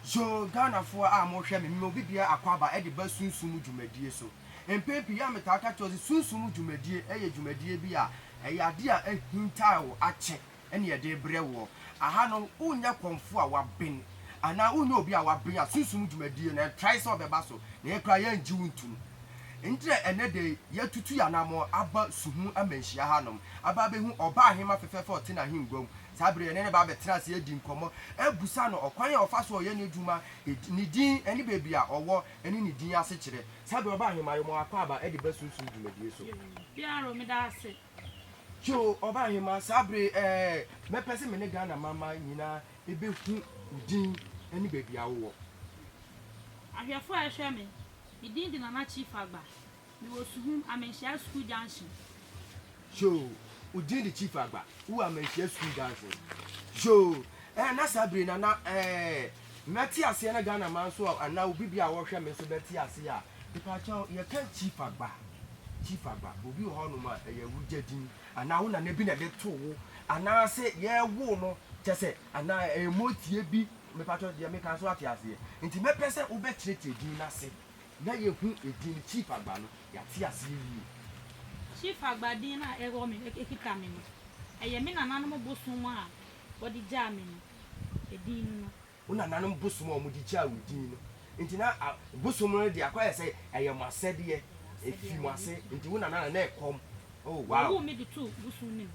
So Ghanafoɔ a mohwɛ me, mema obi biara akwaaba de ba sunsum mu dwumadie so? Mpɛn pii a metaa ka kyerɛ wo sɛ sunsum mu dwumadie yɛ dwumadie bi a ɛyɛ adeɛ a ahinta wo akyɛ. ɛne yɛde rebrɛ woɔ. Aha no wonyɛ kɔmfoɔ a waben anaa wonyɛ obi a waben a sunsum dwumadie no ɛntrae sɛ ɔbɛba so, na yɛn koraa yɛngye wo ntom. Enti na ɛnnɛ da yi yɛatutu yɛn anammɔn aba su ho amanhyia hanom aba abɛhu ɔbaa hemma fɛfɛɛfɛ a ɔte n'ahengua mu. Saa berɛ yi yɛne no bɛba abɛtena ase adi nkɔmmɔ, abisa no ɔkwan a ɔfa so a ɔyɛ n'adwuma, ne din ne baabi a ɔwɔ ɛne ne din asekyerɛ. Saa berɛ yi ɔbaa hemma yɛ mo akwaaba de ba sunsum dwumadie so. Joe Ɔbaahemaa saa bere yi ɛɛ, mɛpɛ sɛ me ne Ghana manmma nyinaa ɛbɛhu wo din ne baabi a wowɔ. Ahwɛfoɔ a ɛhwɛ me, me din de Nana Chief Agba, me wɔ Suhum, Amanhyia School Junction. Joe, wo din de Chief Agba, wo wɔ Amanhyia School Junction. Joe, ɛɛ na saa bere yi na na ɛɛ. Mɛte aseɛ na Ghana man nso a anaa obi bia a ɔhwɛ me nso bɛte aseɛ a mepakyɛw yɛka chief agba chief agba obi wɔ hɔnom a ɛyɛ wo gya din anaa wo nana bi na ɛde too wo anaa sɛ yɛwoo no kyɛ sɛ anaa ɛyɛ motie bi mepakyɛw deɛ meka nso ate aseɛ nti mɛpɛ sɛ wobɛkyerɛkyerɛ din no ase na yɛhu edin no chief agba no yɛate aseɛ yie. Chief agba din no a ɛwɔ me ɛkita me no ɛyɛ me nananom bosom a wɔde gyaa me no edin no. Wo nananom bosom a wɔde gyaa wo din no nti, na bosom no de akɔyɛ sɛ ɛyɛ mo asɛdeɛ, ɛfiri mo ase nti, wo nana na na ɛkɔm. Oh, wow! Wɔwoo me de too bosom no mu.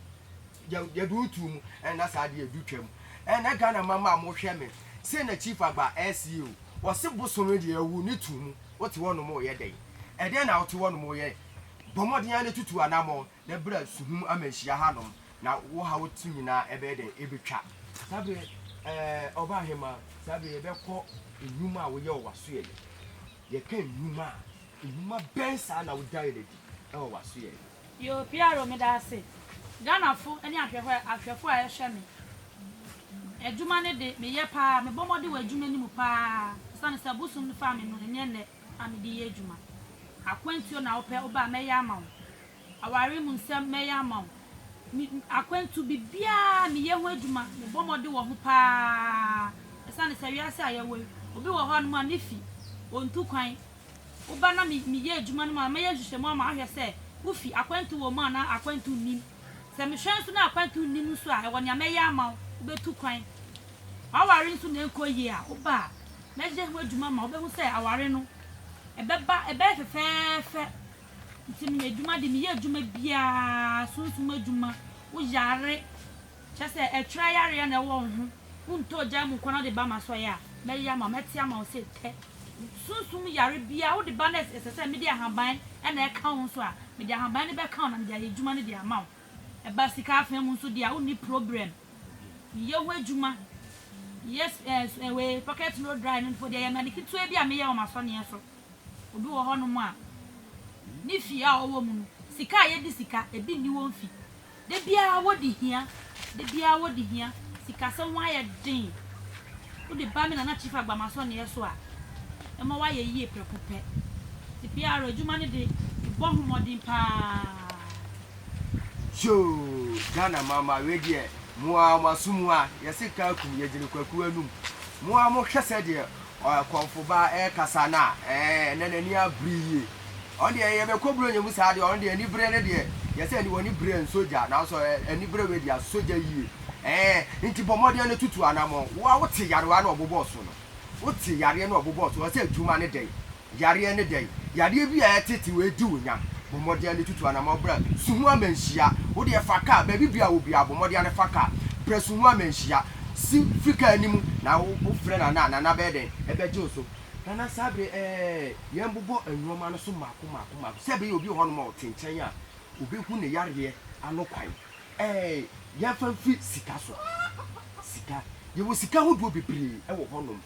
Yɛ, yɛde wo too mu, ɛna na saa adeɛ du twam. Ɛna Ghana mama a mohwɛ me, sei na Chief Agba ɛɛse o, wɔse bosom no deɛ yɛwoo no too mu, wote hɔnom reyɛ dɛn? Ɛdeɛn na wote hɔnom reyɛ? Bɔ mmɔden ara na tutu anammɔn, Na bra suhum amanhyia hanom, na wo haw ti nyinaa ɛbɛyɛ dɛn? Ebetwa. Saa bere yi, ɛɛ, ɔbaa hemmaa, saa bere yi yɛbɛkɔ nnwuma a woyɛ wɔ w'asoɛe. Yɛka nnwuma a, nnwuma bɛn saa na wodae no adi wɔ w'asoɛe? Yoo, PRO, meda ase. Ghanafo ne ahwɛhwɛ, ahwɛfo a ɛhwɛ me adwuma no de, meyɛ paa, mebɔ mmɔden wɔ adwuma no mu paa, esiane sɛ bosom no faa me no, ɛnyɛ nnɛ na mede yɛ adwuma. Akwantuo na wopɛ, wobaa, mɛyɛ ama wo. aware mu nsɛm mɛyɛ ama wo. Me, akwantu biribiara meyɛ ho adwuma, mebɔ mmɔden wɔ ho paa. Ɛsiane sɛ wiase a yɛwɔ yi, obi wɔ hɔnom a ne fi, ontu kwan. Woba na me, meyɛ adwuma no mu a, mɛyɛ nhwehwɛmu ama ahwɛ sɛ wo fi, akwantu wɔ mu anaa akwantu nnim. Sɛ mehwɛ nso na akwantu nnim nso a, ɛwɔ nea mɛyɛ ama wo, wubetu kwan. W'aware nso na ɛnkɔ yie a, woba a, mɛyɛ ho adwuma ma wubehu sɛ aware no, ɛbɛba, ɛbɛyɛ fɛfɛɛfɛ Nti meyɛ adwuma de meyɛ adwuma biaa sunsum adwuma wo yare kyerɛ sɛ ɛtwerɛ yareɛ na ɛwɔ wo ho wo ntɔ ogya mu nkwa na wode ba ma sɔyɛ a mɛyɛ ama mɛte ama wo sɛ tɛ sunsum yare biaa wode ba na ɛsɛ sɛ mede ahaban na ɛka wo nso a mede ahaban no bɛka wo na mede ayɛ adwuma no de ama wo ɛba sika afaa mu nso deɛ a wonni problem meyɛ ho adwuma yes ɛɛ eh, eh, wei pocket no dry no nfo deɛ yɛ mane ketewa bi a meyɛ wɔ m'asɔneɛ so. Obi wɔ hɔnom a, ne fie a ɔwɔ mu no, sika a yedi sika, ebi nni wɔn fi. Da biara wodi hia, da biara wodi hia. Sikasɛm ho ayɛ den. Wode ba me Nana Chief Agbamaso nea so a, ɛma woayɛ yie prɛko pɛ. Te PR adwuma no de, bɔ ho mmɔden paa. Yoo Ghana mama wei deɛ mo ara mo aso mu a yɛse kaa kum yɛgyina kwakuo anum mo ara mo hwɛ sɛdeɛ Ɔkɔmfo ba ɛkasa no a ɛɛ na n'ani abere yie. Ɔno deɛ yɛ bɛkɔ Buronya mu saa deɛ ɔno deɛ anibere no deɛ yɛ sɛ ɛne wɔne bere nsɔ gya nanso anibere wei deɛ asɔ gya yie ɛɛ nti bɔ mmɔden no tutu anamɔn wo a wote yarewa no ɔbobɔ so no wote yareɛ no ɔbobɔ so ɔsɛ adwuma no dɛn Yareɛ ne dɛn? Yadeɛ bi a ɛtete wei di wo nya. Bɔ mmɔden de tutu anammɔn brɛ su ho amanhyia. Wo deɛ fa kaa, baabi biara a wɔ biara bɔ mmɔden ara fa kaa brɛ su ho amanhyia. Si fi kaa anim na wofrɛ Nana a, Nana bɛyɛ dɛn? Ɛbɛgye wo so. Nana saa bere ɛɛ, yɛmbobɔ nnoɔma no so mmaako mmaako mmaako sɛ ɛbɛyɛ obi wɔ hɔnom a ɔte nkyɛn a ɔbɛhu ne yareɛ ano kwan. Ɛɛ, yɛmfa mfiri sika so. Sika, yɛwɔ sika ahodoɔ bebree wɔ hɔnom.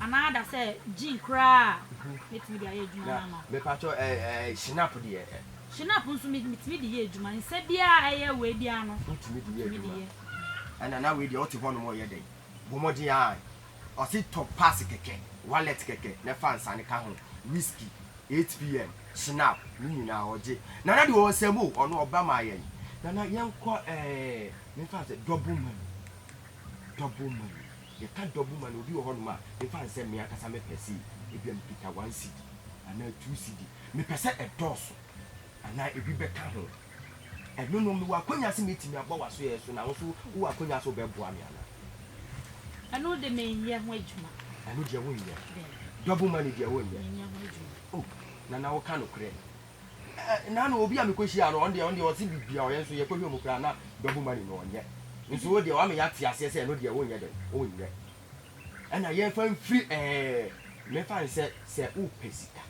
Anaa ada sɛ gene koraa a mɛtumi de ayɛ adwuma no ama wo. Me pa kyɛw eh Shinap deɛ eh. Shinap nso me tumi de yɛ adwuma nsɛ biara ɛyɛ wei biara no. Wo tumi de yɛ adwuma. Ɛna na wei deɛ ɔte hɔ nom ɔyɛ dɛn? Bɔ mmɔden aah. Ɔse tɔ pass kɛkɛ, wallet kɛkɛ na fa nsa no ka ho, whisky, 8pm, Shinap ne nyinaa ɔgye. Nana deɛ ɔwɔ nsɛm o, ɔno ɔba ma yɛn. Nana yɛnkɔ eh me fa sɛ double money, double money. Yɛka dɔbo ma no, obi wɔ hɔnom a, mfa nsɛ me ankasa me pɛ sei, ebia mekita one cedi anaa two cedi, mepɛ sɛ ɛdɔɔso anaa ebi bɛka ho. Ɛno no, mewɔ akwanya sɛ mɛtumi abɔ w'asoɛeɛ so na wo nso wowɔ akwanya sɛ wobɛboa me anaa? Ɛno de, menyɛ ho adwuma. Ɛno deɛ wonyɛ. Daabi. Dɔbo ma no deɛ wonyɛ. Menyɛ ho adwuma. Oh, Nana woka nokorɛ. Nana obi a mekɔ hyia no ɔno deɛ ɔno deɛ ɔse bibia ɔyɛ nso yɛkɔ hwɛ mu koraa na double money no ɔnyɛ nso wo deɛ wama yɛate aseɛ sɛ ɛno deɛ wonyɛ dɛn wonyɛ ɛna yɛmfa mfiri ɛɛ mefa nsɛ sɛ wopɛ sika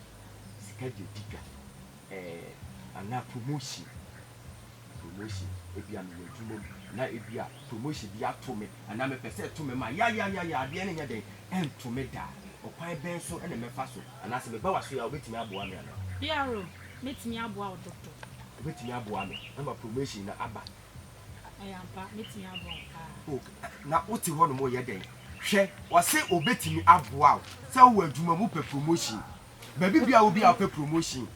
sika deɛ di dwa ɛɛ anaa promotion. promotion ebia mewɔ adwuma mu na ebia promotion bi ato me anaa mepɛ sɛ ɛto me ma yayayaya adeɛ no nyɛ dɛn ɛnto me da a, ɔkwan bɛn so na mɛfa so anaa sɛ meba w'aso yi a wobɛtumi aboa me anaa? PRO, Mɛtumi aboa wo Doctor. Wobɛtumi aboa me ama promotion no aba? Ɛyɛ ampa, mɛtumi aboa wo paa. Ok, na wote hɔ nom reyɛ dɛn? Hwɛ, ɔse ɔbɛtumi aboa wo sɛ wowɔ adwuma mu wopɛ promotion Baabi biara a obi a ɔpɛ promotion,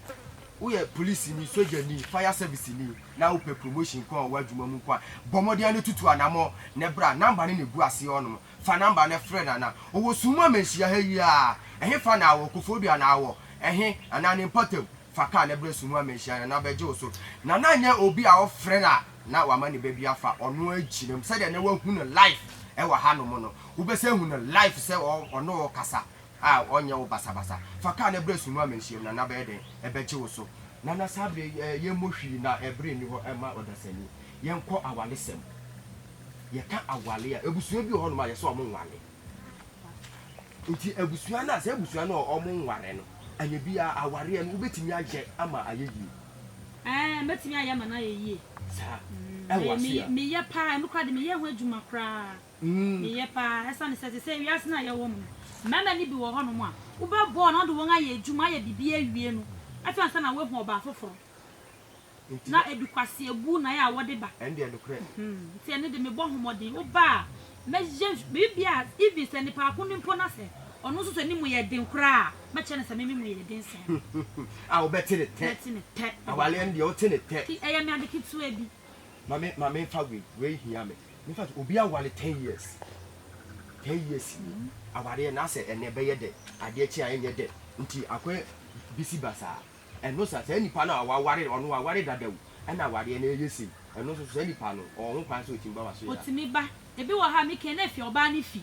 woyɛ polisini, sogyani, fire serviceni, na wopɛ promotion nko ara wɔ w'adwuma mu nko ara, bɔ mmɔden ara na tutu anammɔn na bra. Number no na egu aseɛ hɔnom. Fa number no frɛ no anaa. Ɔwɔ sum mu ama nhyia ha yi ara. Ɛhefa na awɔ? Koforidua anaa awɔ? Ɛhe? Anaa ne mpɔtam? Fa car na bra sum mu ama nhyia ha Nana bɛgye wo so. Nana nyɛ obi a wofrɛ no a na wama ne ba bi afa. Ɔno ara gyina mu. Sɛdeɛ nnɛ woahu no live wɔ hanom no, wobɛsan ahu no live sɛ ɔne wo rekasa. a ɔnyɛ wo basabasa. Fa kar no bra Sumu Amanhyiam na n'abɛyɛ dɛn? Ɛbɛgye wo so. Nana saa bere yi ɛ, yɛmmɔ hwii na bere nni hɔ mma ɔdasani. Yɛnkɔ awaresɛm. Yɛka aware a, abusua bi wɔ hɔnom a yɛsɛ wɔn nware. Nti abusua no a, saa abusua no a wɔn nware no, anyɛ biara awareɛ no wobɛtumi ayɛ ama ayɛ yie. Ɛɛ, mɛtumi ayɛ ama no ayɛ yie. Saa. Ɛwɔ aseɛ a. Meyɛ paa, ɛno koraa deɛ meyɛ ho adwuma koraa. Eye paa, ɛsiane sɛ te sɛ wiase no a yɛwɔ mu no, mmarima no bi wɔ hɔnom a, wobɛbɔ wɔn na wode wɔn ayɛ adwuma, ayɛ biribi awie no, afei ansa na woahu ɔbaa foforo, na edu kwaseabu na ɛyɛ a wɔde ba. Nti ɛno de, mebɔ ho mmɔden, woba a, mɛyɛ biribiara, even sɛ nipa ko no mpo na sɛ ɔno nso sɛ ne mu yɛ den koraa a, mɛkyerɛ no sɛ me me mu yɛ den sɛɛ no. A wobɛte ne tɛ. Mɛte ne tɛ. Awaleɛ no deɛ, wote ne tɛ. Nti ɛyɛ me ade ketewa bi. Ma me, ma memfa wei, wei hia me. In fact obi aware ten years ten years ni awareɛ na asɛ ɛnɛ bɛyɛ dɛ adeɛ kye a ɛnyɛ dɛ nti akɔ bisi basaa ɛno sa saa nipa no a waware ɔno waware dada o ɛna awareɛ no ɛyɛ sei ɛno nso saa nipa no ɔwɔ ho kwan sɛ ɔtumi ba waso yɛ a. Ɔtumi ba ebi wɔ hɔ a me kɛn na ɛfi ɔbaa no fi.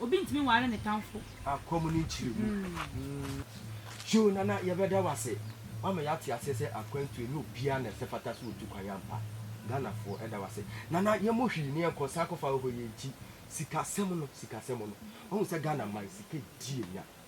Obi ntumi nware ne tamfo. A kɔm ne nkyiri gu. Hugh Nana yɛbɛda wo ase wama yɛate aseɛ sɛ akwantuo ɛnyɛ obiara na ɛsɛ fata sɛ ɔtu kwan ampa Ghanafoɔ ɛda wo ase Nana yɛmmɔ hwii ne yɛnkɔ san kɔfa ahɔhoɔ yɛnkyi sikasɛm no sikasɛm no wahu sɛ Ghana man sika di yɛnya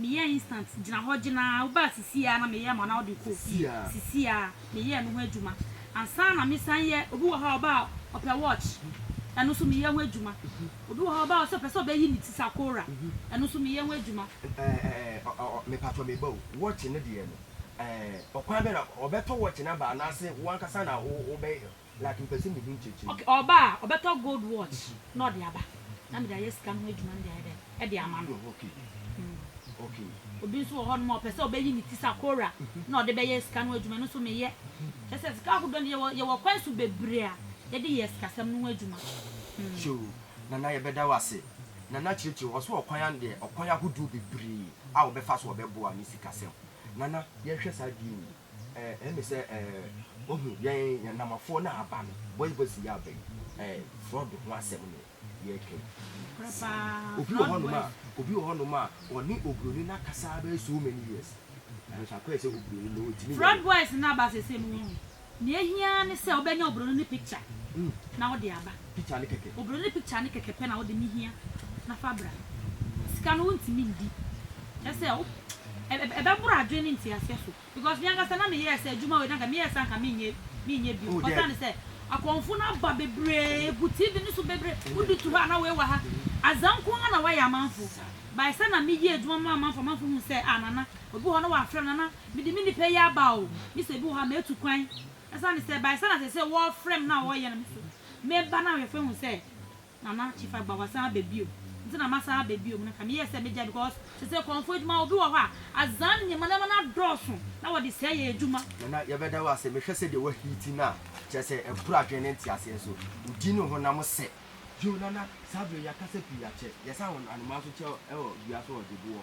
Meyɛɛ instant, gyina hɔ gyina ara, wobaa sisii ara na meyɛɛ ma wo na wode kɔɔ fie, sisii ara, meyɛɛ no ho adwuma. Ansa na mesan yɛ, obi wɔ hɔ a ɔbaa a ɔpɛ watch, ɛno nso meyɛ ho adwuma. Obi wɔ hɔ a ɔbaa a ɔsɛ ɔpɛ sɛ ɔbɛyi ne ti sakora, ɛno nso meyɛ ho adwuma. Ɛɛɛɛ mepakyɛ me ba o, watch no deɛ no ɛɛɛ ɔkwan bɛn na ɔbɛtɔ watch no aba anaase wo ankasa na wobɛyɛ? Black mpɛ sɛ mehu nkyekye no. Ok ɔba a ɔbɛtɔ gold watch na ɔde aba na mede ayɛ sika no ho adwuma no de ayɛ dɛn de ama no. Obi nso wɔ hɔnom a ɔpɛ sɛ ɔbɛyi ne ti sakora na ɔde bɛyɛ sika no ho adwuma ɛno nso meyɛ. Kyerɛ sɛ sika ahodoɔ no yɛwɔ yɛwɔ kwan so bebree a yɛde yɛ sikasɛm no ho adwuma. Yoo Nana yɛbɛda wo ase. Nana kyerɛkyerɛ mu, ɔse ɔkwan ano deɛ ɔkwan ahodoɔ bebree a ɔbɛfa so ɔbɛboa ne sikasɛm. Nana yɛnhwɛ saa bio o. Eh, ɛne sɛ, eh, wohu, yɛn, yɛn Namafoɔ no a aba no, Boy Voice yi aba yi, eh, Fraud ho asɛm na yɛreka yi. Saa. Obi wɔ hɔnom a, obi wɔ hɔnom a, ɔne Oburoni no akasa ara bɛyɛ so many years, nanso akɔyɛ sɛ Oburoni no, ɔntumi nyɛ Fraud no. Boys no aba seesei no, woahu. Nea ɛhia ara ne sɛ wobɛnya Oburoni no picture na wode aba. picture ne kɛkɛ. Obroni ne picture ne kɛkɛ pɛ na wode me hia na fa bra. Sika no wontumi ndi. Kyerɛ sɛ wo ɛbɛboro adwene ne nteaseɛ so because me ankasa na meyɛɛ sɛ adwuma wei na nka meyɛɛ sɛ anka menyɛ menyɛ bio. Ɔsan ne sɛ akɔmfo no aba bebree gu TV no so bebree wode tu hɔ a na wei wɔ ha. Azaa nko ara na wayɛ amanfo. By sɛ na meyɛ adwuma ma amanfo amanfo hu sɛ ah Nana obi wɔ hɔ na wafrɛ me Nana mede me nipa yi aba o me sɛ ebi wɔ hɔ a matu kwan. Esiane sɛ ɛbae sɛ na ɛsɛ sɛ wɔfrɛ me na wɔyɛ no me so meba na awɛmfo ahu sɛ Nana Chief Agba wasan aba bio nti na masan aba bio no ka meyɛɛ sɛ megyae because te sɛ kɔmfo adwuma obi wɔ hɔ a adzaa ne nneɛma nneɛma no adɔɔso na wɔde sɛɛ yɛ adwuma. Nana yɛbɛda wo ase mehwɛ sɛdeɛ wa heati no a kyerɛ sɛ ɛboro adwene ne nteaseɛ nso wo din ne wo honam sɛ. Yoo Nana saa berɛ yi akasa pii akyɛ yɛsan wɔ anomaa nso kyɛ wɔ dua so wɔ Deboɔ.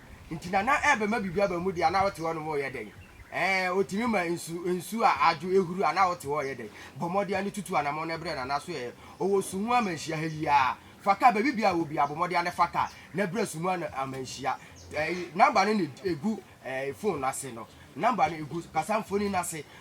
nti na na ɛrebɛma biribi aba mu deɛ a na wote hɔ nom reyɛ dɛn? Ɛɛ, ɔtumi ma nsu, nsu a adwo, ɛhuru a na wote hɔ reyɛ dɛn? Bɔ mmɔden ara ne tutu anamɔn no brɛ no anaso ɛɛ, ɔwɔ su ho amanhyia ha yi ara. Fa kaa, baabi biara a ɛwɔ biara bɔ mmɔden ara ne fa kaa na brɛ su ho amanhyia. Ɛɛ, number no na ɛgu ɛɛ, phone no ase no. Number no ɛgu kasamfonin no ase.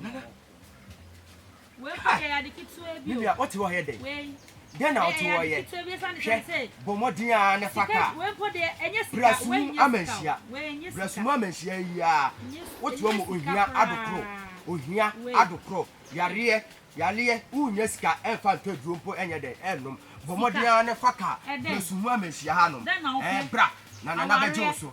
Nana. Wei kò yɛ ade ketewa bi o. Nana ɔte hɔ yɛ dɛ. Wei. Dɛ na ɔte hɔ yɛ. Hwɛ bɔ mmɔden a ne fa kaa. Wei mpo deɛ ɛnyɛ sika. Brasum amanhyia. Wei ɛnyɛ sika. Brasum amanhyia yi a. Wote hɔ ma ohia adokoro. Ohia adokoro. Yareɛ yareɛ wonya sika ɛnfa ntɔ aduro mpo ɛnyɛ dɛ ɛnnom. Bɔ mmɔden a ne fa kaa. Brasum amanhyia ha nom. Ɛɛ bra na nana bɛgye wo so.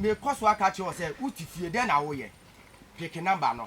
mekɔ so aka kyerɛ wo sɛ wote fie dɛn na woyɛ peke namba no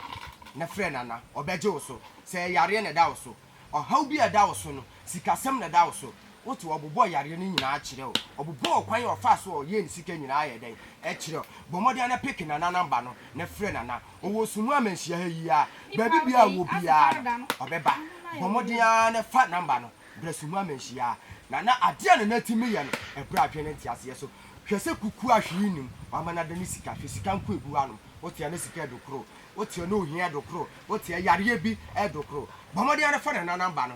na frɛ nana ɔbɛgye wo so sɛ ɛyareɛ na ɛda wo so ɔhaw bi a ɛda wo so no sikasɛm na ɛda wo so wo te ɔbobɔ yareɛ no nyinaa kyerɛ o ɔbobɔ ɔkwan a ɔfaa so a ɔyɛɛ ne sika nyinaa ayɛ dɛn ɛkyerɛ o bɔ mmɔden ara na peke nana namba no na frɛ nana ɔwɔ sumu amanhyia ha yi ara baabi biara ɔwɔ biara no ɔbɛba bɔ mmɔden ara na fa namba no brɛ sumu amanhyia nana adeɛ a nana tumi yɛ no ɛbrɛ adwene ne nteaseɛ so hwɛ sɛ kukua hwee nnim wama no ada ne sika hwɛ sika nko ɛgu hɔ nom wo te a na sika ɛdokoro wo te a na ohia ɛdokoro wo te a yareɛ bi ɛdokoro bɔ mmɔden ara na fa nana namba no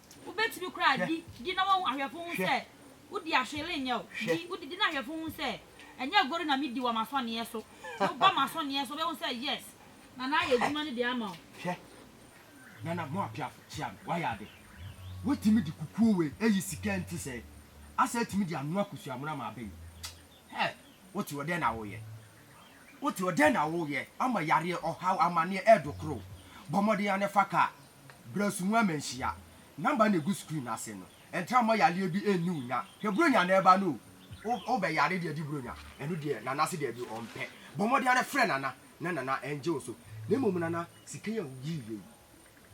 Wobɛtumi koraa di, di na wɔhu ahwɛfo ho sɛ wodi ahwele nyɛ wo. Di, wodi, di na ahwɛfo ho sɛ ɛnyɛ agoru na medi wɔ m'asɔneɛ so. Woba m'asɔneɛ so a, wobɛhu sɛ yes, Nana ayɛ adwuma no de ama wo. Hwɛ, Nana Moapiafo, kyea me, woayɛ ade. Woatumi de kukuo wei ayi sika a ɛnte sɛɛ, asan atumi de anoa kosua mono ama aba yi. Hɛɛ, wote hɔ, dɛn na woreyɛ? Wote hɔ, dɛn na woreyɛ? Ama yareɛ, ɔhaw, amaneɛ ɛredokoro wo. Bɔ mmɔden ara na fa kaa Brɛsu mu amanhyia. Number na egu screen no ase no, ɛntra mma yareɛ bi nni wo nya. Hwɛ Buronya na ɛba no o, wo bɛ yare deɛ gye Buronya, ɛno deɛ Nana se daabi ɔn pɛ. Bɔ mmɔden ara frɛ Nana na Nana ɛngye wo so. Na mmom Nana, sika yi a wo yii yɛ yi,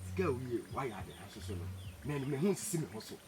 sika a wo yie, wa yɛ ade nanso so no, me me ho nsisi me ho so.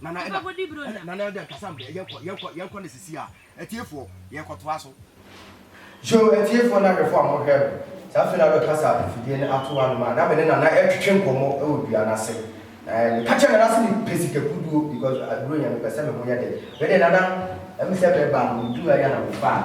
Nana Ɛda, Ɛda, Nana Ɛda kasa mbrɛ yɛkɔ, yɛkɔ, yɛkɔ no sisi a, atiefoɔ, yɛkɔtoa so. Yo, atiefoɔ na ahwɛfoɔ a mohwɛ no, saa afei na bɛ kasa afidie no ato anom a, na me ne Nana ɛretwetwe nkɔmmɔ wɔ dua no ase, na meka kyerɛɛ Nana sɛ mepɛ sika kuduo because aduro yɛ, mepɛ sɛ me ho yɛ den. Wei deɛ Nana, ɛm sɛ meba no, meduu ha yi a na mefaa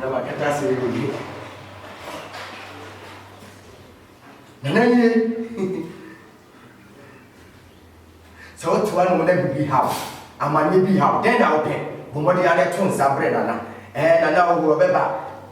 na makata sɛ ɛdɔdwe nana nie sɛ wotewa no na biribi haw amanneɛ bi haw dɛn na wopɛ bɔmmɔden ara to nsa berɛ nana ɛɛ nana wohoɔ bɛba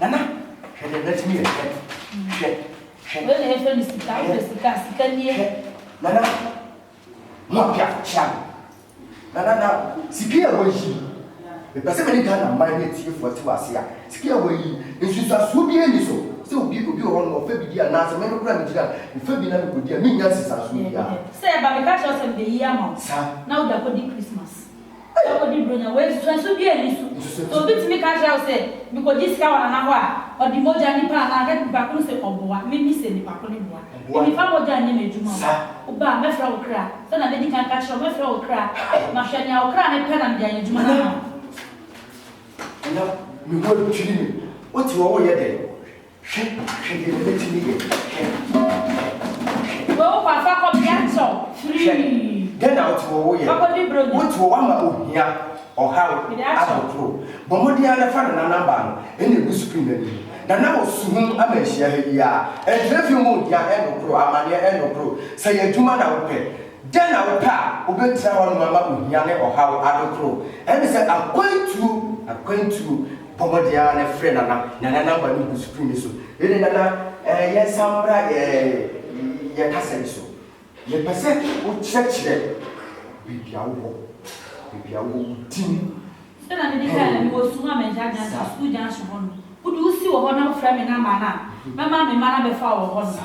Nana, hwɛ deɛ n'atini yɛ fɛ. Hwɛ, hwɛ. Wei na yɛfrɛ no sika, wofrɛ sika a, sika nie. Hwɛ, Nana, mo a piafo kyea no. Nana, na sika yi a woayi, mepɛ sɛ me ne Ghana mmaa ne atiefo ate wo ase a, sika yi a woayi, nsunsuansoɔ biara nni so sɛ obi obi wɔ hɔ nom ɔfa bi di anaasɛ me no koraa megyina a mefa bi na mekɔdi a mennya nsunsuansoɔ biara. Sɛ ɛba a, meka kyerɛ wo sɛ mebeyi ama wo na wode akɔdi Christmas. Sɛ wodi Buronya wei nsusuanso biara nni so. Sɛ obi tumi ka kyerɛ wo sɛ, Mikogye sika wɔ Nana hɔ a, ɔde mogya nipa anaa ka nipa ko no sɛ ɔboa me ne sɛ nipa ko no boa me, mefa mogya nyɛ m'adwuma o, woba a, mɛfrɛ wo kra. Sɛnea madi kan ka kyerɛɛ wo, mɛfrɛ wo kra. Mahwɛ nea wo kra no pɛ na mede ayɛ adwuma no ama wo. Nana, me ho adwiri me. Wote hɔ, woreyɛ dɛn? Hwɛ, hwɛ deɛ mɛtumi yɛ, hwɛ, hwɛ, hwɛ. Wɔ kɔ afa kɔ bea tɔ firi. Hwɛ, dɛn na wote wɔ wo yɛ? Wakɔdi buro nyɛ. Wote wɔ wama ohia, ɔhaw, ahodoɔ. Bɔ mmɔden ara fa Nana namba no na egu screen no anim. Nana wɔ suhum ama nhyia ha yi ara. Ɛnkyerɛ fie mu ohia ɛne koro, amaneɛ ɛne koro. Sɛ ɛyɛ adwuma na wopɛ, dɛn na wopɛ a wobɛtena hɔnom ama ohia ne ɔhaw adokoro? Ɛne sɛ akwantuo, akwantuo. Bɔ mmɔden ara na frɛ Nana. Nana number no gu screen no so. Wei de Nana eh, yɛnsan mmra yɛn yɛn kasa yi so. Yɛpɛ sɛ wokyerɛkyerɛ baabi a wowɔ, baabi a wowɔ, wo din. Sɛ na mede kae na mewɔ sukuu a mangya Johnson, Sa. sukuu Johnson hɔ no, wode wo si wɔ hɔ na wofrɛ me number no a, mɛma me mma no abɛfa wo wɔ hɔ no. Sa.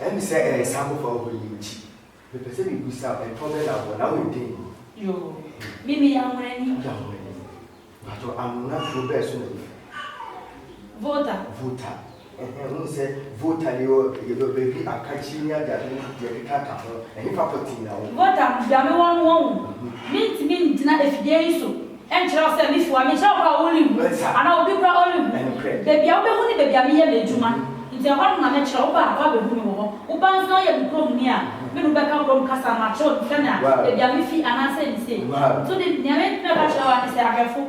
Ɛyɛ me sɛ ɛyɛ saa abɔfra horow yi nti. Mepɛ sɛ mibisa wo, ɛtɔ bɛn na wowɔ, na woyɛ dɛn ni? Yoo, me meyɛ anwonani. Woyɛ anwonani? Mpakyɛw, anwona kurow bɛn so na wufi? Volta. Volta, ɛhɛn, wohu sɛ Volta no yɛ ɔ, yɛ baabi a kakyire ne adeade ne deɛ ɛkeka ka ho, ɛhefa pɔtee na wowɔ? Volta, bea a mewɔ no wɔn o, mintumi nntena afidie yi so. Ɛnkyerɛ wo sɛ me fua me, ɛnkyerɛ wo koraa a wo renhu, anaa obi koraa a ɔrenhu. Baabi a wobɛhu ne baabi a meyɛ m'adwuma, nti ɛhɔ no na mɛkyerɛ wo. Wo ba a, woabɛhu me wɔ hɔ. Wo ba nso ayɛ me kuromni a, me ne wo bɛka kurom kasa, na makyerɛ no sɛnea, baabi a mefi, anaa sei ne sei. Nso de, nea mɛka akyerɛ wo ara ne sɛ, ahwɛfo,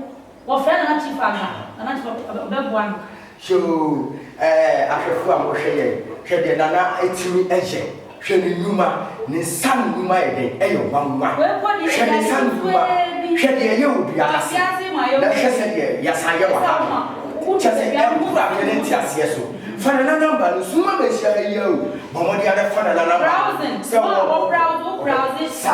wɔfrɛ Nana Chief Agba, Nana Chief, ɔbɛboa no. Hyew! Ɛɛ, ahwɛfo a wɔhwɛ yɛn, hwɛ deɛ Nana atumi ayɛ! Hwɛ ne nnwuma! Ne nsa ano nnwuma yɛ den, ɛyɛ nwanwa! Hwɛ ne nsa ano nnwuma! Hwɛ deɛ ɛyɛ wɔ dua ase, na hwɛ sɛdeɛ yɛasan ayɛ wɔ ha no. Kyerɛ sɛ, ɛnkura adwene ne nteaseɛ so. Fa Nana nɔmba no, sum ma bɛhyia ha yi ara o. Bɔ mmɔden ara bɛfa Nana nɔmba no sɛ wobɛbɔ no. Sa.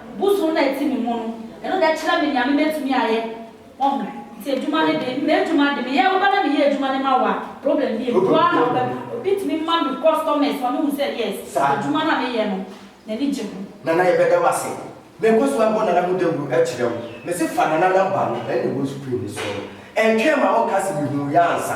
Bosoom na ɛte me mu no, ɛno deɛ kyerɛ me nea mebɛtumi ayɛ, wahu, nti adwuma no deɛ, m'adwuma deɛ, meyɛ, woba na meyɛ adwuma no ma wo a, problem bi nie, boa na wobɛka, obi tumi ma me customers ma mehu sɛ yes, adwuma no a meyɛ no, n'ani gye ho. Nana yɛbɛda wo ase. Menkɔ so abɔ Nana mu dawuro akyerɛ wo. Mese fa Nana number no na ɛwɔ screen no soɔ no. Ɛntwɛn ma ɔnka se mehuu yɛ ansa.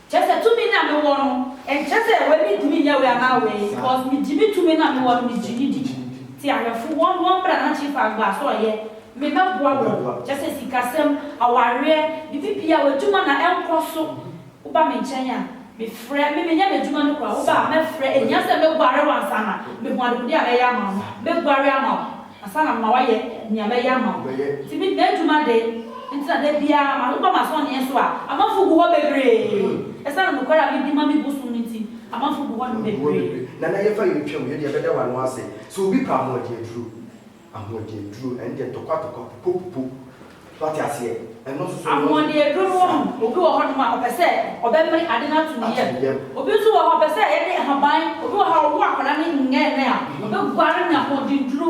Kyerɛ sɛ tumi no a me wɔ no, ɛnkyerɛ sɛ wei me ntumi nyɛ wei anaa wei, because me gye me tumi no a me wɔ no me gye no di. Te awɛfo, wɔn wɔn bra na Chief Agbo a, sɛ ɔyɛ, me mɛ boa wɔn, kyerɛ sɛ sikasɛm, awareɛ, biribi biara, adwuma na ɛnkɔ so, wo ba me nkyɛn a, me frɛ, me me nyɛ m'adwuma no koraa, wo ba a, mɛ frɛ, ɛhia sɛ me guare wo ansa na, me hu adekode a mɛ yɛ ama wo no, mɛ guare ama wo. Ansa na mema woayɛ nea mɛyɛ ama wo. Nti me m'atu m'ade. Nti na da biara mapepa m'asɔneɛ so a amanfo gu hɔ bebree. Esiane nokware a midi ma me bosom no nti, amanfo gu hɔ bebree. Nana yɛfa yɛ ntwam yɛdeɛ bɛda w'ano ase sɛ obi pɛ ahoɔden aduro ahoɔden aduro ɛndeɛ ntɔkwa tɔkwa pupo pupo So wate aseɛ? Ɛno nso so ɛno Ahoɔden aduro no wɔ mu. Sa. Obi wɔ hɔnom a, ɔpɛ sɛ ɔbɛmene ade no ato ne Ato yam. ne yam. Obi nso wɔ hɔ a, ɔpɛ sɛ yɛde nhaban, obi wɔ ha a, ɔwo akwadaa no nnɛɛnnɛ a, ɔbɛguare ne ahoɔdenduro.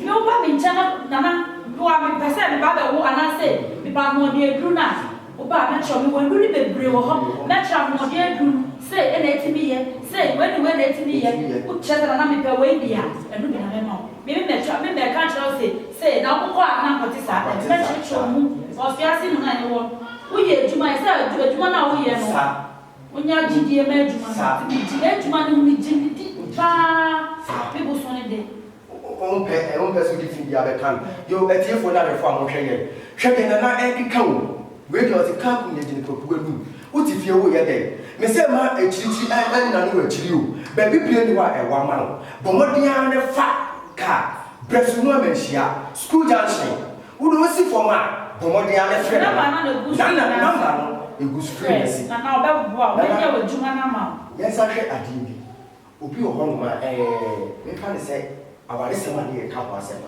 Me woba me nkyɛn na, Nana, boa me, mepɛ sɛ meba abɛwo anaasɛ mepɛ ahoɔden aduro no a, woba a, mɛkyerɛ wo. Mewɔ nnuro no bebree wɔ hɔ. Mɛkyerɛ ahoɔden aduro no, sei na ɛtumi yɛ, sei, wei ne wei na ɛtumi yɛ. Ɛtumi yɛ. Wokyerɛ sɛ, Nana, mepɛ wei deɛ a, ɛno bi na mɛma wo. Me na ɛtwa, me na ɛka akyerɛ wo se, sei, na wokɔ a na ankɔte saa, na ɛde bɛkyerɛkyerɛ wo mu wɔ afiase mu no a yɛwɔ no. Woyɛ adwuma, ɛsɛ sɛ adwu, adwuma no a woyɛ no, wonya gyidie ma adwuma no, nti megye m'adwuma no, megye no di pa ara, me boso no de. Wompɛ, wompɛ sɛ wode tumi biara bɛka no. Yo, atiefoɔ ne adwɔfoɔ a monhwɛ yɛn, hwɛ deɛ Nana ɛde ka o. Wei deɛ ɔte car kum negyene kwaku anum wote fie wo yɛ dɛn me sɛ ma akyirikyiri ɛn ɛn nane wo akyiri o baabi pie ni hɔ a ɛwɔ ama wo bɔ mmɔden ara na fa car brɛ so mu ama nhyia school junction wo de osi fam a bɔ mmɔden ara na frɛ nana nana number no ɛgu screen no ase nana ɔbɛ boa wo nana ɔbɛ yɛ wo adwuma no ama wo. Yɛnsan hwɛ adeɛ bi obi wɔ hɔ nom a ɛɛ me mfa no sɛ awaresɛm a ne yɛ ka ho asɛm no.